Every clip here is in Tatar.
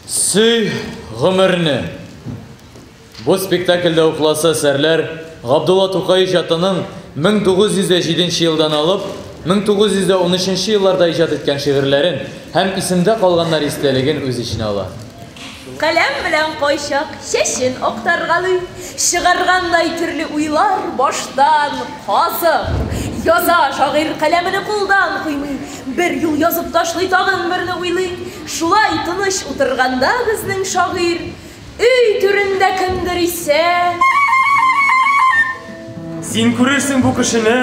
Сөй гомерне. Бу спектакльдә укласы әсәрләр Габдулла Тукай иҗатының 1907 елдан алып 1913 елларда иҗат иткән шигырьләрен һәм исемдә калганнар истәлеген үз эченә ала. Каләм белән кайчак чәчен актаргалый, чыгаргандай төрле уйлар баштан казып яза шагыйрь каләмене кулдан куймый, бер юл язып ташлый тагын берне уйлый, шулай тыныч утырганда безнең шагыйрь өй түрендә кемдер исә. Син күрерсең бу кешене,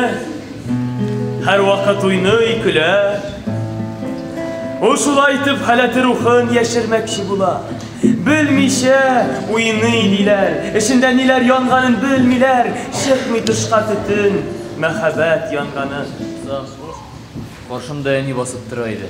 һәрвакыт уйный, көлә. Ул шулай итеп халәте рухын яшермәкче була. Белмичә уйный диләр, эчендә ниләр янганын белмиләр, чыкмый тышка төтен, мәхәббәт янганын. Каршымда әни басып тора иде.